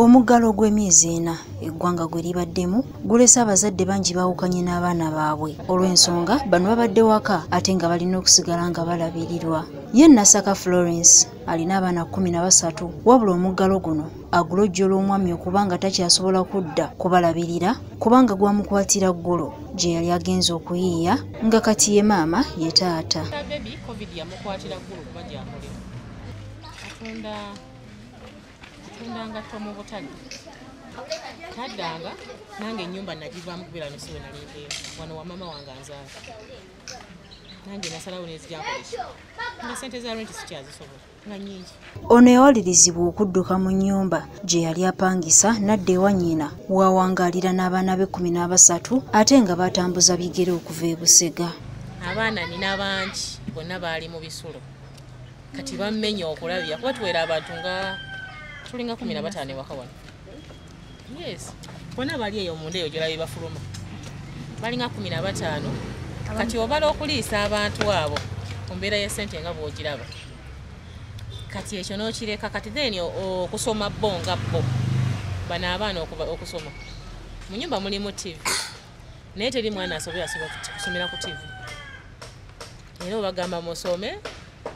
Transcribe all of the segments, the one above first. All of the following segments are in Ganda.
omuggalo ogw'emyezi ena eggwanga gwe libaddemu gulese abazadde bangi baawukanye n'abaana baabwe olw'ensonga bano babadde waka ate nga balina okusigala nga balabirirwa ye nasaka florence alina abaana kkumi na basatu wabula omuggalo guno agulojjola omwami okuba nga takyasobola kudda kubalabirira kubanga gwamukwatira ggulo gye yali agenza okuyiiya nga kati ye maama ye taata taddanga nange enyumba nagivaamu kubeera nosiwe nalindeemu wano wamama wange anzaala nange nasalawo nezijakolesa nga sente za renti sikyazisobola nga nyingi ono yawalirizibwa okudduka mu nnyumba gye yali apangisa nadda ewa nnyina wawangaalira n'abaana be kumi n'abasatu ate nga batambuza bigere okuva e busega abaana nina bangi bonna baali mu bisulo kati bammenya okulabya kuba tuwera abantu nga tulinga kumi na bataano ewaka wano yes bona bali eyo munda eyo gyolabe bafuluma balinga kumi na bataano kati obala okuliisa abantu abo ku mbeera ya sente nga bwogiraba kati ekyo nokireka kati then okusoma bo nga bo bano abaana okusoma mu nyumba mulimu tv naye teri mwana asobola kusomera ku tv era obagamba musome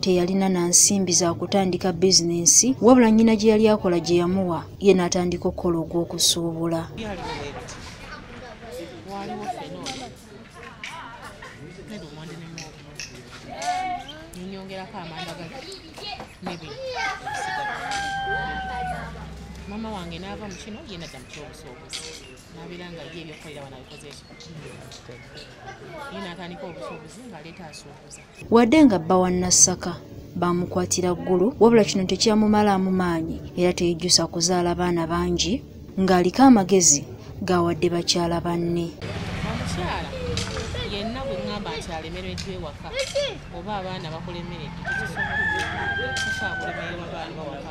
teyalina na nsimbi za kutandika bizinensi wabula nnyina gye yali akola gye yamuwa ye n'atandika okukola ogw'okusuubula mama wange naava mu kino ye nadda mu kyobusuubuzi nabeera nga ye ebyokukolera wano abikoze ekyo ye natandika obusuubuzi ng'aleeta asuubuza wadde nga bba wa nassaka baamukwatira ggulu wabula kino tekyamumalaamu maanyi era teyejjusa kuzaala baana bangi ng'aliko amagezi gaawadde bakyala banne omukyala yenna bwe ŋŋamba nti alemereddwa ewaka oba abaana bakulemeredde tekisobola kukyakulemererwa baana bawaka